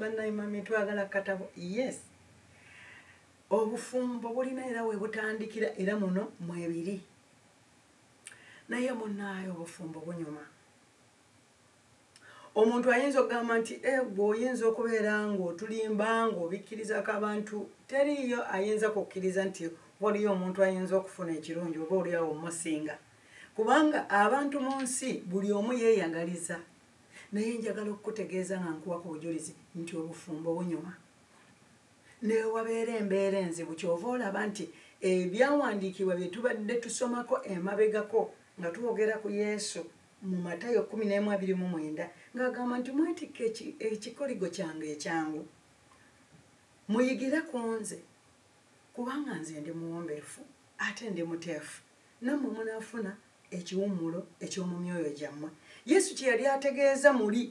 banaye mami twagala katabo yes obufumbo bulina era webutandikira era muno mwebiri naye munaye obufumbo bunyuma omuntu ayinza okugamba nti egwe eh, oyinza okubeera ngaotulimba ngaobikkirizako abantu teriiyo ayinza kukkiriza nti waliyo omuntu ayinza okufuna ekirungi oba oliawo omusinga kubanga abantu mu nsi buli omu yeeyagaliza Naye njagala okukutegeeza nga nkuwa ku bujulizi nti obufumbo bunyuma. Newabeera embeera enzibu kyova olaba nti ebyawandiikibwa bye tubadde tusomako emabegako nga twogera ku Yesu mu Matayo 11:29 ng'agamba nti mwetikke ekikoligo kyange ekyangu muyigire ku nze kubanga nze ndi muwombeefu ate ndi muteefu. Nammwe munaafuna ekiwummulo eky'omu myoyo gyammwe. Yesu kye yali ategeeza muli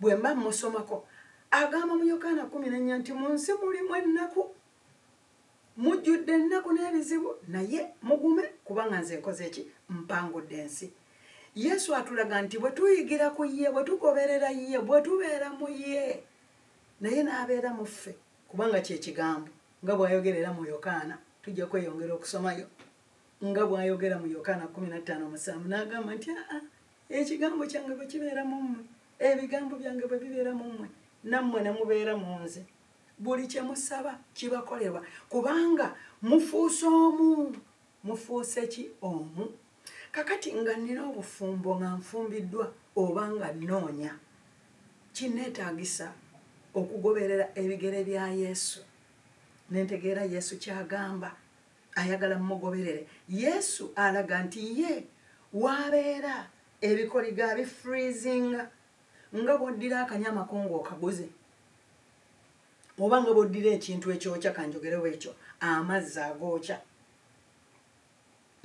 bwe mba mmusomako, agamba mu Yokaana kumi n'ennya nti mu nsi mulimu ennaku, mujjudde ennaku n'ebizibu, naye mugume kubanga nze nkoze ki? Mpangudde ensi. Yesu atulaga nti bwe tuyigira ku ye, bwe tugoberera ye, bwe tubeera mu ye, naye n'abeera mu ffe kubanga kye kigambo nga bw'ayogerera mu Yokaana, tujja kweyongera okusomayo. nga bw'ayogera mu Yokaana 15:7 n'agamba nti aa ekigambo kyange bwe kibeera mu mmwe ebigambo byange bwe bibeera mu mmwe nammwe ne mubeera mu nze buli kye musaba kibakolebwa kubanga mufuuse omu mufuuse ki omu kakati nga nnina obufumbo nga nfumbiddwa oba nga nnoonya kinneetaagisa okugoberera ebigere bya yesu nentegeera yesu kyagamba Ayagala mmugoberere. Yesu alaga nti ye w'abeera ebikoligo abifriizinga nga bw'oddira akanyama ko ng'okaguze oba nga bw'oddira ekintu ekyokya kanjogerewo ekyo amazzi agookya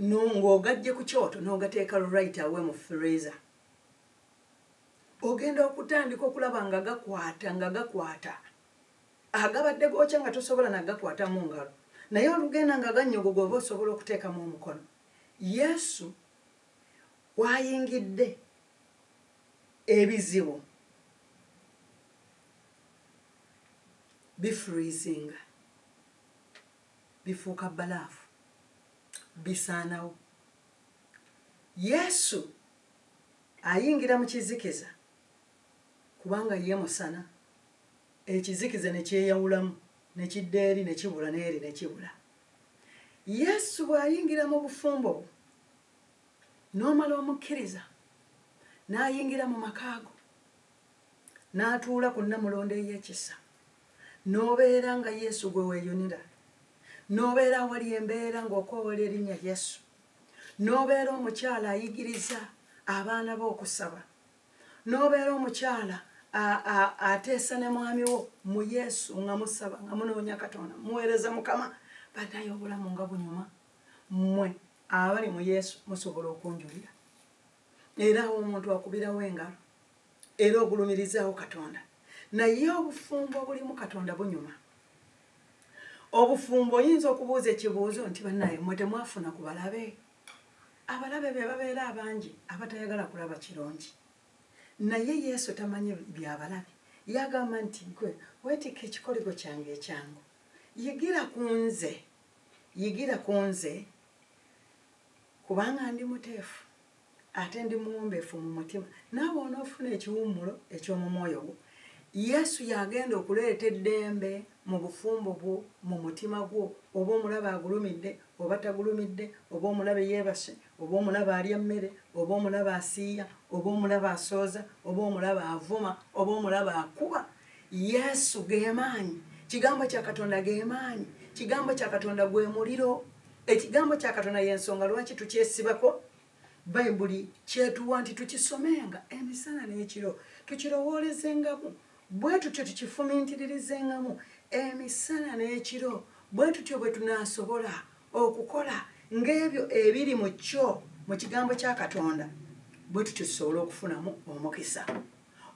ng'ogaggye ku kyoto n'ogateeka right away mu freezer ogenda okutandika okulaba nga gakwata nga gakwata agabadde gookya nga tosobola na gakwata mu ngalo naye olugenda nga gannyogoga oba osobola okuteekamu omukono yesu wayingidde ebizibu bifrizinga bifuuka balaafu bisaanawo yesu ayingira mu kizikiza kubanga ye musana Ekizikiza ne kyeyawulamu, ne kidda eri, ne kibula n'eri, ne kibula. Yesu bw'ayingira mu bufumbo bwo, n'omala omukkiriza, n'ayingira mu maka go, n'atuula ku nnamulondo ey'ekisa, n'obeera nga Yesu gwe weeyunira, n'obeera awali embeera ng'okoowala erinnya Yesu, n'obeera omukyala ayigiriza abaana be okusaba, n'obeera omukyala ateesa ne mwami wo mu yesu nga musaba nga munoonya katonda muweereza mukama banaye obulamu nga bunyuma mmwe abali mu yesu musobola okunjulira era awo omuntu akubirawo engalo era ogulumirizaawo katonda naye obufumbo obulimu katonda bunyuma obufumbo oyinza okubuuza ekibuuzo nti banaye mwe temwafuna ku balabe Abalabe be babeera abangi abatayagala kulaba kirungi. Naye Yesu tamanyi bya balabe. Yagamba nti, Ggwe weetikke ekikoligo kyange ekyangu. Yigira ku nze. Yigira ku nze kubanga ndi muteefu ate ndi muwombeefu mu mutima. Naawe onoofuna ekiwummulo eky'omu mwoyo gwo. Yesu y'agenda okuleeta eddembe. mu bufumbo bwo, mu mutima gwo, oba omulabe agulumidde oba tagulumidde, oba omulabe yeebase oba omulabe alya mmere, oba omulabe asiiya oba omulabe asooza, oba omulabe avuma oba omulabe akuba, Yesu ge maanyi. Kigambo kya Katonda ge maanyi. Kigambo kya Katonda gwe muliro. Ekigambo kya Katonda y'ensonga lwaki tukyesibako. bayibuli kyetuwa nti tukisomenga emisana n'ekiro tukirowoolezengamu bwe tutyo tukifumiitiririzengamu emisana n'ekiro bwe tutyo bwe tunaasobola okukola ng'ebyo ebiri mu kyo mu kigambo kya katonda bwe tutyo tusobole okufunamu omukisa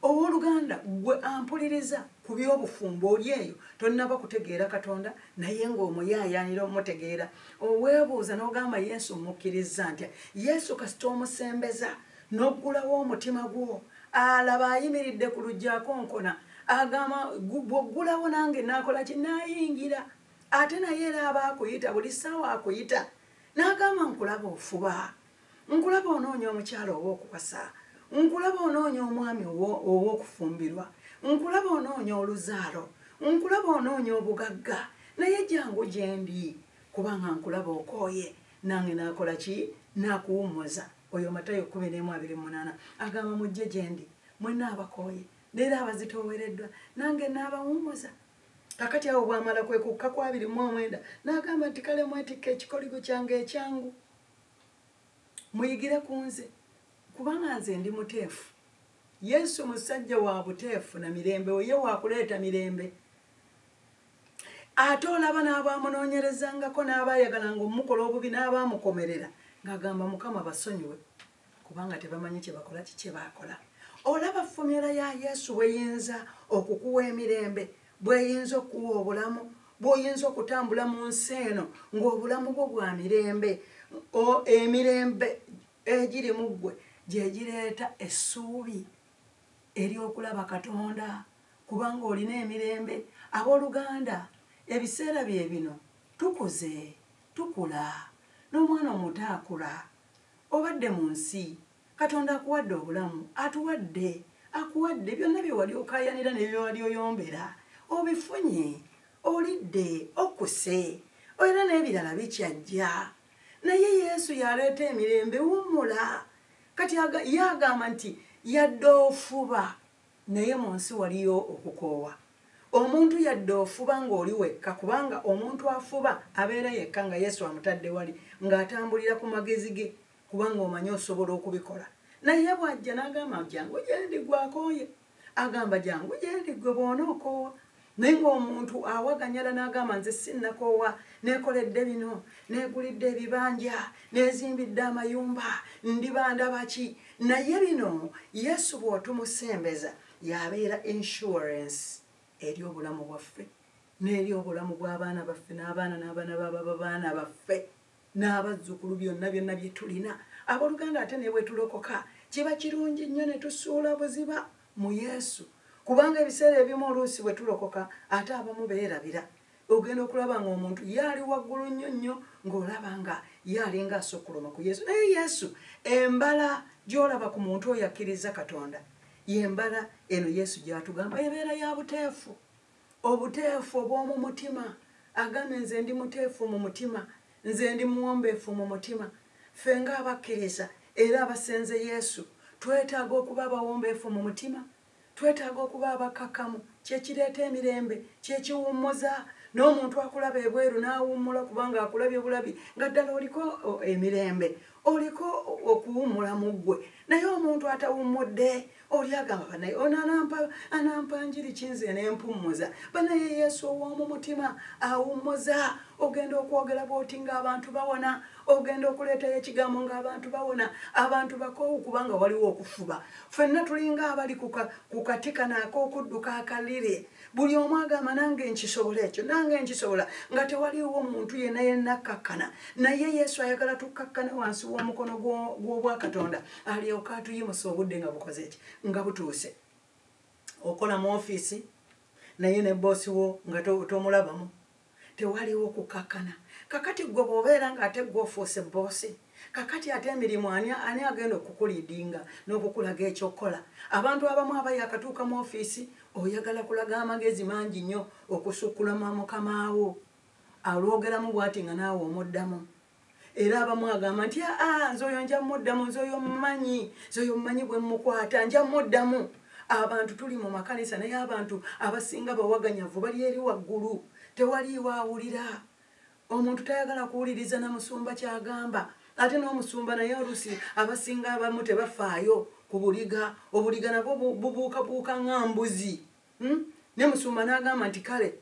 Ow'oluganda, ggwe ampuliriza, ku by'obufumbo, oli eyo, tonnaba kutegeera Katonda, naye nga omuyaayaanira omutegeera. Oweebuuza n'ogamba, Yesu mmukkirizza ntya? Yesu kasita omusembeza, n'oggulawo omutima gwo, alaba ayimiridde ku luggi akonkona, agamba, Bw'oggulawo nange naakola ki? Naayingira. Ate naye era aba akuyita, buli ssaawa akuyita. N'agamba, Nkulaba ofuba. nkulaba onoonya omukyala ow'okuwasa nkulaba onoonya omwami ow'okufumbirwa nkulaba onoonya oluzaalo nkulaba onoonya obugagga naye jangu gyendi kubanga nkulaba okooye nange nakola ki nakuwummuza oyo matayo kumi n'emu abiri munaana agamba mujje gyendi mwena abakooye neera abazitoowereddwa nange naabawummuza kakati awo bwamala kwekukka kwabiri mu omwenda n'agamba nti kale mwetikka ekikoligo kyange ekyangu muyigire ku nze kubanga nze ndi muteefu yesu musajja wa buteefu na mirembe oye wakuleeta mirembe ate olaba n'abaamunoonyerezangako n'abaayagalanga omukola obubi n'abaamukomerera ng'agamba mukama basonyiwe kubanga tebamanyi kyebakola kikyebakola olaba fomula ya yesu bweyinza okukuwa emirembe bweyinza okukuwa obulamu bwoyinza okutambula mu nsi eno ngaobulamu bwo bwa mirembe emirembe egiri mu ggwe gyegireeta essuubi eryokulaba katonda kubanga olina emirembe abooluganda ebiseera bye bino tukuze tukula n'omwana omuto akula Obadde mu nsi, Katonda akuwadde obulamu, atuwadde, akuwadde, byonna bye wali okaayanira ne bye wali oyombera, obifunye, olidde, okkuse, era n'ebirala bikyajja. Naye Yesu y'aleeta emirembe. Wummula! Kati Ye agamba nti, Yadde ofuba, Naye mu nsi waliyo okukoowa omuntu yadde ofuba ng'oli wekka kubanga omuntu afuba abeera yekka nga Yesu amutadde wali ng'atambulira ku magezi ge kubanga omanyi osobola okubikola naye bw'ajja n'agamba jjangu gyendi ggwe akooye agamba jangu gyendi ggwe bw'onookoowa naye ng'omuntu awaganyala n'agamba nze sinnakoowa neekoledde bino neegulidde ebibanja neezimbidde amayumba ndibandaba ki naye bino yesu bw'otumusembeza yabeera insurance eri obulamu bwaffe n'eri obulamu bw'abaana baffe n'abaana n'abaana bababa baana baffe n'abazzukulu byonna byonna bye tulina. Abooluganda, ate ne bwe tulokoka, kiba kirungi nnyo ne tusuula buziba mu Yesu, kubanga ebiseera ebimu oluusi bwe tulokoka ate abamu beerabira. Ogenda okulaba ng'omuntu ye ali waggulu nnyo nnyo, ng'olaba nga ye alinga asukkuluma ku Yesu. Naye Yesu, embala gy'olaba ku muntu oyo akkirizza Katonda, y'embala eno Yesu gy'atugamba ebeera ya buteefu. Obuteefu obw'omu mutima. Agambye, Nze ndi muteefu mu mutima. Nze ndi muwombeefu mu mutima. Ffe ng'abakkiriza era abasenze Yesu, twetaaga okuba abawombeefu mu mutima. Twetaaga okuba abakkakkamu. Kye kireeta emirembe. Kye kiwummuza. N'omuntu akulaba ebweru n'awummula kubanga akulabye bulabi nga ddala oliko emirembe. oliko okuwummula mu ggwe naye omuntu atawummudde oli agamba banaye ono anampa anampa njiri kinze nempummuza banaye yesu ow'omu mutima awummuza ogenda okwogera bwoti ng'abantu bawona ogenda okuleetayo ekigambo ng'abantu bawona abantu bakoowu kubanga waliwo okufuba ffenna tulinga abali ku kati kanaak'okudduka akaliri buli omu agamba nange nkisobola ekyo nange nkisobola nga tewaliwo muntu yena yena akkakkana naye yesu ayagala tukkakkane wansi w'omukono gw'obwakatonda alyoka atuyimusa obudde nga bukoze eki nga butuuse okola mu ofiisi naye ne boosi wo nga tomulabamu tewaliwo kukakkana kakati gwe bwobeera nga ate gwe ofuuse bboosi kakati ate emirimu ani ani agenda okukulidinga n'okukulaga ekyokukola abantu abamu aba yakatuuka mu ofiisi oyagala kulaga amagezi mangi nnyo okusukkulama mukamaawo alwogeramu bwati nga naawe omuddamu era abamu agamba nti aa nze oyo nja muddamu nze oyo mumanyi nze oyo mumanyi bwe mukwata nja muddamu abantu tuli mu makanisa naye abantu abasinga bawaganyavu bali eri waggulu tewaliiwo awulira omuntu tayagala kuwuliriza na musumba kyagamba ate n'omusumba naye olusi abasinga abamu tebafaayo ku buliga obuliga nabwo bubuukabuuka nga mbuzi hmm? ne musumba n'agamba nti kale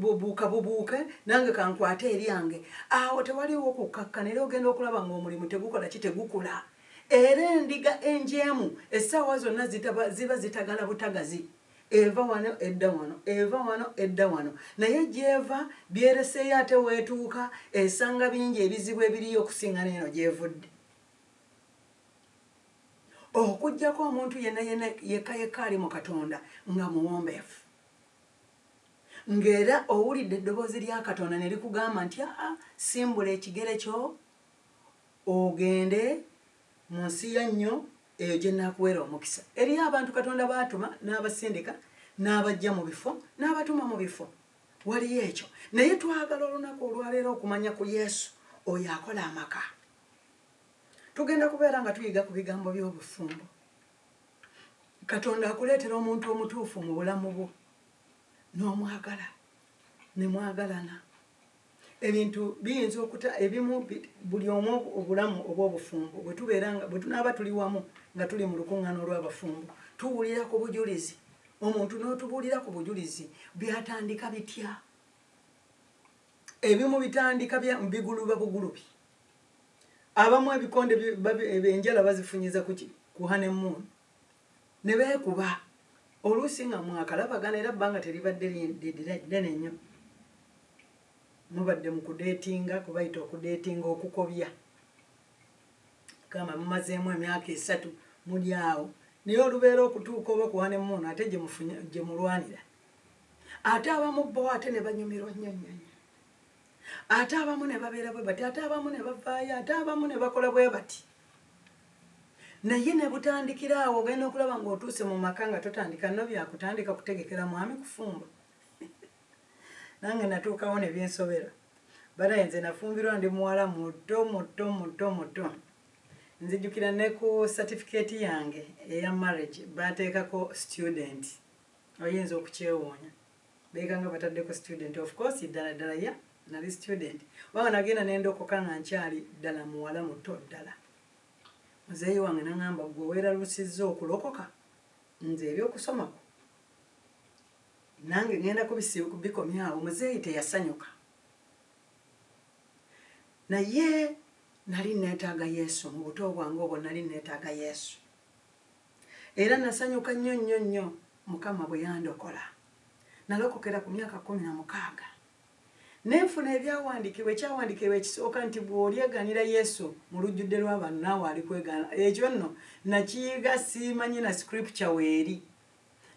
bubuuka bubuuke nange kankwate eryange awo tewaliwo kukkakkana era ogenda okulaba ng'omulimu tegukola ki tegukula era endiga enjeemu essaawa zonna ziba zitagala butagazi eva wano edda wano eva wano edda wano naye gyeva byereseeyo ate weetuuka esanga bingi ebizibu ebiriyo okusinga neeno gyevudde okujjako omuntu yena yena yeka yeka ali mu katonda nga muwombeefu ng'era owulidde eddoboozi lya katonda ne likugamba nti aa simbula ekigere kyo ogende mu nsi ya nnyo eyo gye naakuweera omukisa eriyo abantu katonda baatuma n'abasindika n'abajja mu bifo n'abatuma mu bifo waliyo ekyo naye twagala olunaku olwaleero okumanya ku yesu oyo akola amaka Tugenda kubeera nga tuyiga ku bigambo by'obufumbo. Katonda akuleetera omuntu omutuufu mu bulamu bwo n'omwagala ne mwagalana. Ebintu biyinza okuta ebimu buli omu obulamu obw'obufumbo bwe tubeera nga bwe tunaaba tuli wamu nga tuli mu lukuŋŋaana olw'abafumbo tuwulira ku bujulizi omuntu n'otubuulira ku bujulizi byatandika bitya ebimu bitandika biguluba bugulubi abamu ebikonde enjala bazifunyiza kuki kuhane moon ne beekuba oluusi nga mwakalabagana era bbanga teribadde ddene nnyo mubadde mu kudeetinga kubayita okudeetinga okukobya gamba mumazeemu emyaka esatu muli awo naye olubeera okutuuka oba kuhane moon ate gye mulwanira ate abamu bo ate ne banyumirwa nnyo nnyo nnyo ate abamu ne babeera bwe bati ate abamu ne bavaayo ate abamu ne bakola bwe bati naye ne butandikira awo ogenda okulaba ng'otuuse mu maka nga totandika no byakutandika kutegekera mwami kufumba nange natuukawo ne byensobera banaye nze nafumbirwa ndi muwala muto muto muto muto nzijukira ne ku satifikeeti yange eya marriage bateekako student oyinza okukyewuunya beeka nga bataddeko student of course ddala ddala ya nali student waba nagenda nendokoka nga nkyali ddala muwala muto ddala muzeeyi wange nangamba gwe weralusizza okulokoka nze eri okusomako nange ngenda kubikomyawo muzeeyi teyasanyuka naye nali netaaga yesu mu buto bwange obwo nali netaaga yesu Era nasanyuka nnyo nnyo nnyo Mukama bwe yandokola. Nalokokera ku myaka kkumi na mukaaga. Ne nfuna ebyawandiikibwa, ekyawandiikibwa ekisooka nti bw'olyegaanira Yesu mu lujjudde lw'abantu naawe alikwegaana. Ekyo nno nakiyiga simanyi na scripture weeri.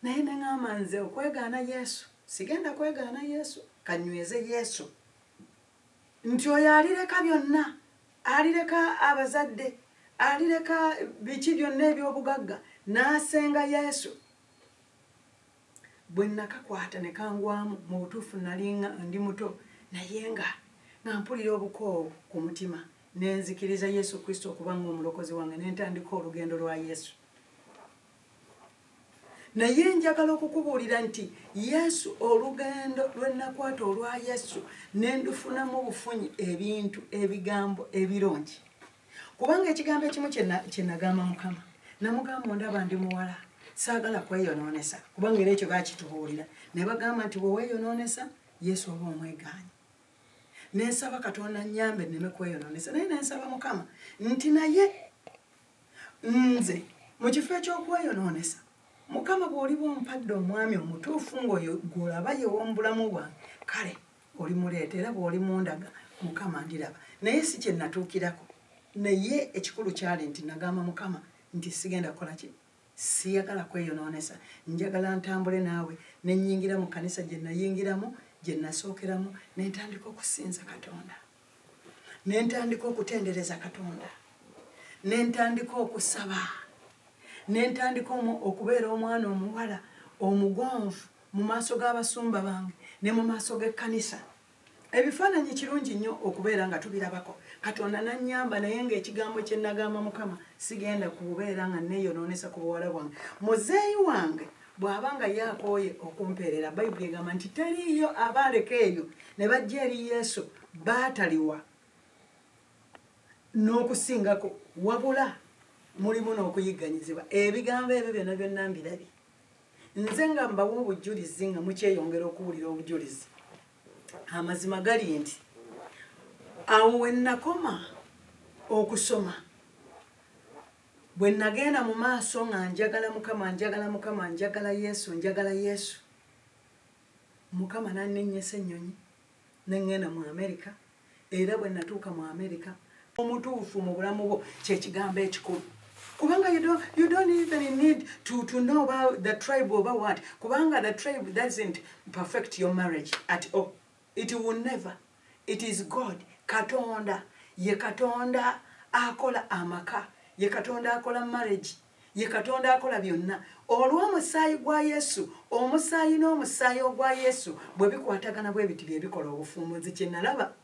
Naye ne ng'amba nze okwegaana Yesu, sigenda kwegaana Yesu, ka nnyweze Yesu. nti oyo alireka byonna alireka abazadde alireka biki byonna ebyobugagga n'asenga yesu bwe nakakwata ne kangwamu mu butuufu nalinga ndi muto naye nga nga mpulira obukoowu ku mutima nenzikiriza yesu kristo okuba nga omulokozi wange nentandika olugendo lwa yesu naye njagala okukubuulira nti yesu olugendo lwenakwata olwa yesu nendufunamu obufunyi ebintu ebigambo ebirungi kubanga ekigambo ekimu kyenagamba mukama namugamba ondaba ndi muwala saagala kweyonoonesa kubanga era ekyo bakitubuulira ne bagamba nti bweweeyonoonesa yesu oba omwegaanyi nensaba katonda nyambe neme kweyonoonesa naye nensaba mukama nti naye nze mu kifo eky'okweyonoonesa mukama bw'oliba ompadde omwami omutuufu ng'oyo gw'olaba yew'omubulamu bwange kale oli muleeta era bw'oli mundaga mukama ndiraba naye si kye natuukirako naye ekikulu kyali nti nagamba mukama nti sigenda kukola ki siyagala kweyonoonesa njagala ntambule naawe ne nnyingira mu kanisa gye nayingiramu gye nasookeramu ne ntandika okusinza katonda ne ntandika okutendereza katonda ne ntandika okusaba ne ntandika okubeera omwana omuwala omugonvu mu maaso g'abasumba bange ne mu maaso g'ekkanisa ebifaananyi kirungi nnyo okubeera nga tubirabako katonda nannyamba naye ng'ekigambo kye nagamba mukama sigenda kubeera nga neeyonoonesa ku buwala bwange muzeeyi wange bw'aba nga ye akooye okumpeerera bayibuli egamba nti teriiyo abaaleka eyo ne bajja eri yesu baataliwa n'okusingako wabula mulimu n'okuyigganyizibwa ebigambo ebyo byonna byonna mbirabye nze nga mbawa obujulizi nga mukyeyongera okuwulira obujulizi amazima gali nti awo we nakoma okusoma Bwe nnagenda mu maaso nga njagala Mukama, njagala Mukama, njagala Yesu, njagala Yesu, Mukama n'anninnyisa ennyonyi ne ŋŋenda mu Amerika era bwe nnatuuka mu Amerika. Omutuufu mu bulamu bwo kye kigambo ekikulu. Kubanga you don't, you don't even need to, to know about the tribe oba what. Kubanga the tribe doesn't perfect your marriage at all. It will never. It is God. Katonda. Ye katonda akola amaka. Ye katonda akola marriage. Ye katonda akola byonna. Olw'omusaayi gwa Yesu, omusaayi n'omusaayi ogwa Yesu bwe bikwatagana bwe biti bye bikola obufuumuzi kye nalaba.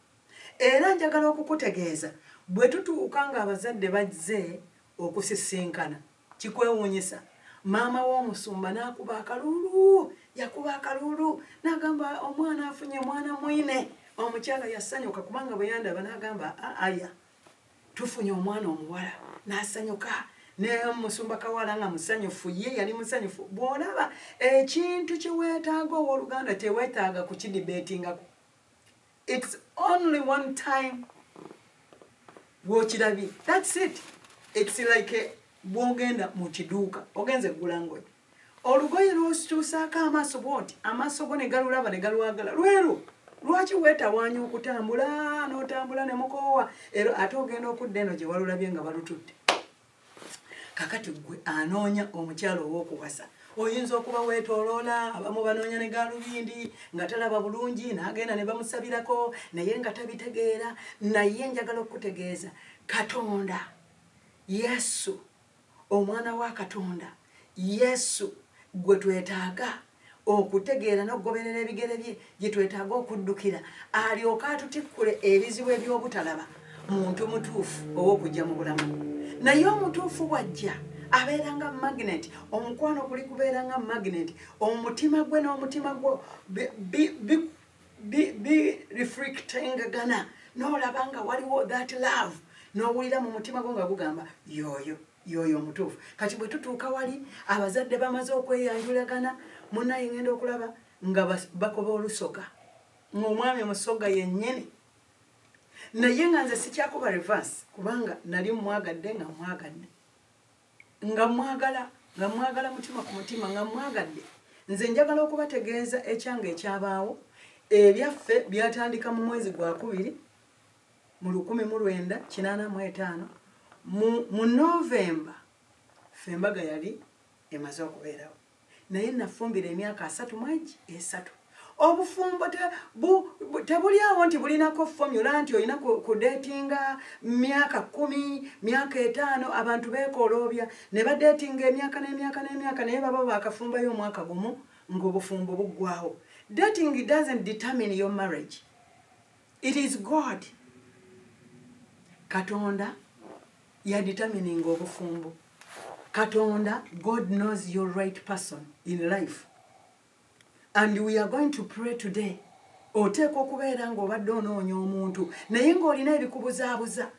Era njagala okukutegeeza bwe tutuuka ng'abazadde bazze okusisinkana. kikwewuunyisa maama w'omusumba n'akuba akaluulu yakuba akaluulu n'agamba omwana afunye omwana mwine omukyala yasanyuka kubanga bwe yandaba n'agamba aya tufunye omwana omuwala n'asanyuka nemusumba kawala nga musanyufu ye yali musanyufu bw'olaba ekintu kye weetaaga ow'oluganda tewetaaga kukidibetingako It's only one time wokirabye that's it it's like eh, bwogenda mu kiduuka ogenze kugula ngoye olugoye lwosikyusaako amaaso bwoti amaaso go ne galulaba ne galwagala lwero lwaki wetawaanya okutambula n'otambula ne mukoowa era ate ogenda okudda eno gye walulabye nga balututte kakati gwe anoonya omukyalo owokuwasa oyinza okuba wetoloola abamu banoonya ne galubindi nga talaba bulungi nagenda ne bamusabirako naye nga tabitegeera naye njagala okukutegeeza katonda yesu omwana wa katonda yesu gwe twetaaga okutegeera n'okugoberera ebigere bye gye twetaaga okuddukira alyoke atutikkule ebizibu eby'obutalaba muntu mutuufu ow'okujja mu bulamu naye omutuufu bwajja abeera nga magnet omukwano guli kubeera nga magnet omutima gwe n'omutima gwo birefrictingagana n'olaba nga waliwo that love n'owulira mu mutima gwo nga gugamba yooyo yoyo omutuufu kati bwe tutuuka wali abazadde bamaze okweyanjulagana munaye ngenda okulaba nga bakoba olusoga ngaomwami omusoga yennyini naye nga nze sikyakuba reverse kubanga nali mwagadde nga mwagadde nga mwagala nga mwagala mutima ku mutima nga mwagadde nze njagala okubategeeza ekyanga ekyabaawo ebyaffe byatandika mu mwezi gwakubiri mu lukumi mu lwenda kinaana mu etaano mu mu novemba ffe embaga yali emaze okubeerawo naye nafumbira emyaka asatu mwegi esatu obufumbo tebuli awo nti bulinako fomula nti olina kudetinga myaka kumi myaka etaano abantu beekoloobya ne badetinga emyaka n'emyaka n'emyaka naye baba bakafumbayo omwaka gumu ng'obufumbo buggwawo dating doesn't determine your marriage it is god katonda ya determining obufumbo katonda god knows your right person in life and we are going to pray today oteeka okubeera ngaobadde onoonya omuntu naye ngaolina ebikubuzaabuza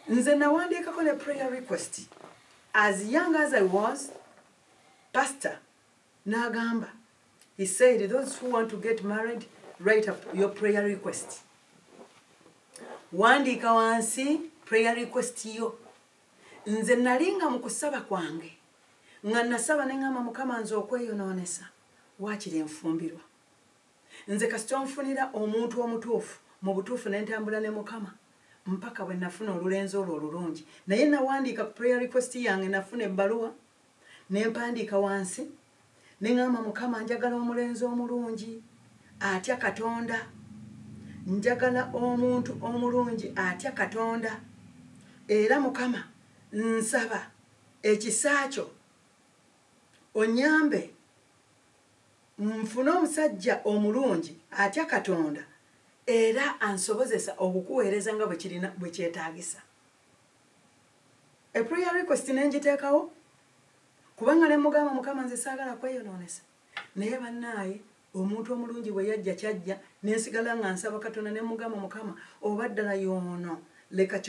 nze nawandiikako ne prayer request as young as i was pastor N'agamba, He said, those who want to get married, write up your prayer request. Wandiika wansi prayer request yo. Nze nali nga mu kusaba kwange nga nasaba ne ngamba mukama nze okweyonoonesa waakiri enfumbirwa nze kasita onfunira omuntu omutuufu mu butuufu ne ntambula ne mukama mpaka bwe nafuna olulenzi olwo olulungi naye nawandiika ku prayer request yange nafuna ebbaluwa ne mpandiika wansi ne ŋŋamba, Mukama, njagala omulenzi omulungi atya Katonda. Njagala omuntu omulungi atya Katonda. Era, Mukama, nsaba ekisa Kyo onnyambe nfune omusajja omulungi atya Katonda era ansobozesa okukuweereza nga bwe kyetaagisa. a prayer request nenjiteekawo kubanga ne mugamba mukama nze saagala kweyonoonesa naye bannaaye omuntu omulungi bwe yajja kyajja nensigala nga nsaba katonda ne mugamba mukama oba ddala yoono leka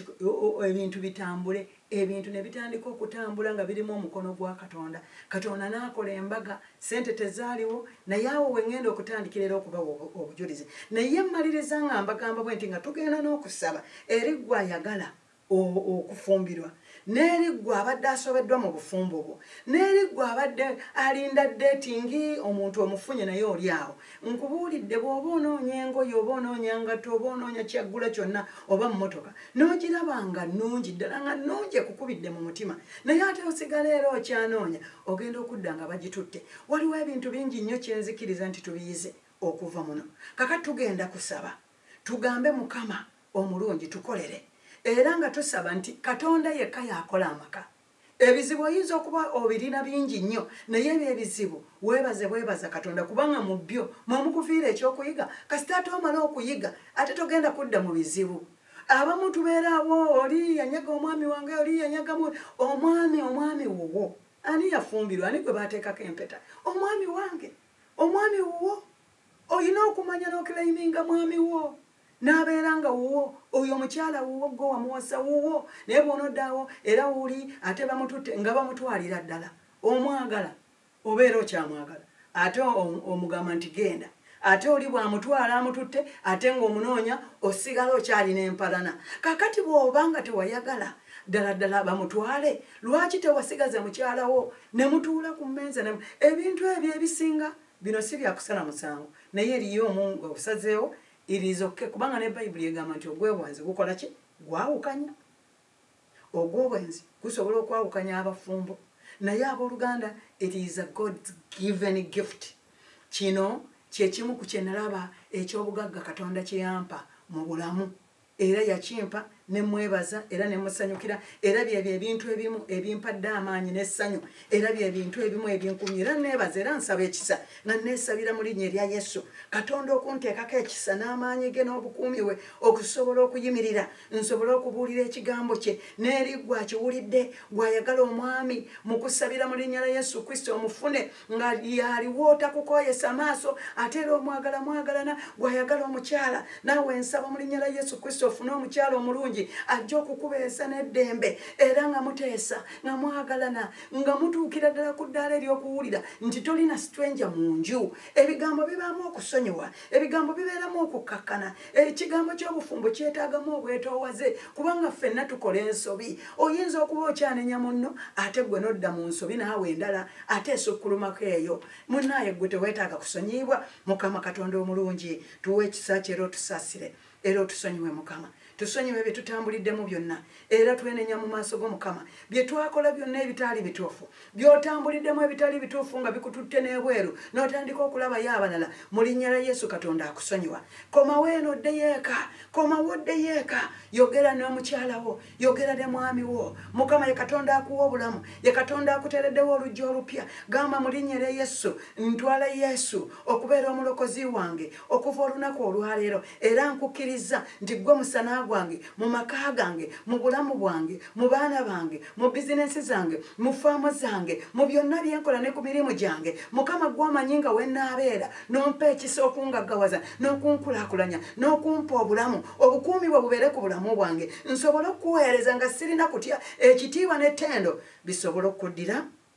ebintu bitambule ebintu ne bitandika okutambula nga birimu omukono gwa katonda katonda n'akola embaga sente tezaaliwo naye awo we ŋŋenda okutandikira era okubawa obujulizi naye mmaliriza nga mbagamba bwe nti nga tugenda n'okusaba eri gwe ayagala o, okufumbirwa, n'eri ggwe abadde asobeddwa mu bufumbo bwo, n'eri ggwe abadde alinda ddeetingi, omuntu omufunye naye oli awo. Nkubuulidde, bw'oba onoonya engoye, oba onoonya ngatto, oba onoonya ky'aggula kyonna, oba mmotoka, n'ogiraba nga nnungi, ddala nga nnungi ekukubidde mu mutima, naye ate osigala era okyanoonya, ogenda okudda nga bagitutte. Waliwo ebintu bingi nnyo kye nzikiriza nti tubiyize okuva muno. Kaakati tugenda kusaba, tugambe Mukama. omulungi tukolere era nga tusaba nti Katonda yekka y'akola amaka. Ebizibu oyinza okuba obirina bingi nnyo naye ebyo ebizibu weebaze bwebaza Katonda kubanga mu byo mwe mukufiira ekyokuyiga kasita ate omala okuyiga ate togenda kudda mu bizibu. Abamu tubeerawo oli yanyaga omwami wange oli yanyagamu omwami omwami wuwo ani yafumbirwa ani gwe baateekako empeta omwami wange omwami wuwo olina okumanya n'okilayiminga mwami wo. n'abeera nga wuwo oyo omukyala wuwo gwe wamuwasa wuwo naye bw'onoddaawo era wuli ate bamututte nga bamutwalira ddala omwagala obeera okyamwagala ate omugamba nti genda ate oli bw'amutwala amututte ate ng'omunoonya osigala okyalina empalana kakati bw'oba nga tewayagala ddala ddala bamutwale lwaki tewasigaza mukyalawo ne mutuula ku mmeeza ebintu ebyo ebisinga Bino si bya kusala musango, naye eriyo omu nga osazeewo it is ok kubanga ne bayibuli egamba nti ogwebwanzi gukola ki gwawukanya ogwobwenzi gusobola okwawukanya abafumbo naye aboluganda it is a god given gift kino kyekimu ku kyenalaba ekyobugagga katonda kyeyampa mu bulamu era yakimpa ne mwebaza era ne musanyukira era byebyo ebintu ebimu ebimpadde amaanyi n'essanyu era bye bintu ebimu ebinkumye era neebaza era nsaba ekisa nga neesabira mu linnya erya yesu katonda okunteekako ekisa n'amaanyi ge n'obukuumi we okusobola okuyimirira nsobole okubuulira ekigambo kye n'eri gwe akiwulidde gw'ayagala omwami mu kusabira mu linnya lya yesu kristo omufune nga yaliwo otakukoyesa maaso ate era omwagala mwagalana gwayagala omukyala naawe nsaba mu linnya la yesu kristo ofune omukyala omulungi ajja okukubeesa n'eddembe era nga muteesa nga mwagalana nga mutuukira ddala ku ddaala ery'okuwulira nti tolina sitwenja mu nju ebigambo bibaamu okusonyiwa ebigambo bibeeramu okukkakkana ekigambo ky'obufumbo kyetaagamu obwetoowaze kubanga ffenna tukola ensobi oyinza okuba okyanenya munno ate gwe nodda mu nsobi naawe endala ate esukkulumako eyo munaaye gwe teweetaaga kusonyiyibwa mukama katonda omulungi tuwa ekisa kyo era otusaasire era otusonyiwe mukama tusonyiwe bye tutambuliddemu byonna era twenenya mu maaso go mukama byetwakola byonna ebitaali bituufu byotambuliddemu ebitali bituufu nga bikututte n'ebweru n'otandika okulabayo abalala mu linnya la yesu katonda akusonyiwa komawo eno oddeyo eka komawo oddeyo eka yogera n'omukyalawo yogera ne mwami wo mukama ye katonda akuwa obulamu ye katonda akuteereddewo oluggi olupya gamba mu linnya lya yesu ntwala yesu okubeera omulokozi wange okuva olunaku olwaleero era nkukkirizza nti ggwe musana gwange mu maka gange mu bulamu bwange mu baana bange mu bizinensi zange mu faamu zange mu byonna byenkola ne ku mirimu gyange mukama gwomanyi nga wenaabeera nompa ekisa okungaggawaza n'okunkulakulanya n'okumpa obulamu obukuumi bwe bubeere ku bulamu bwange nsobole okukuweereza nga sirina kutya ekitiibwa n'ettendo bisobole okuddira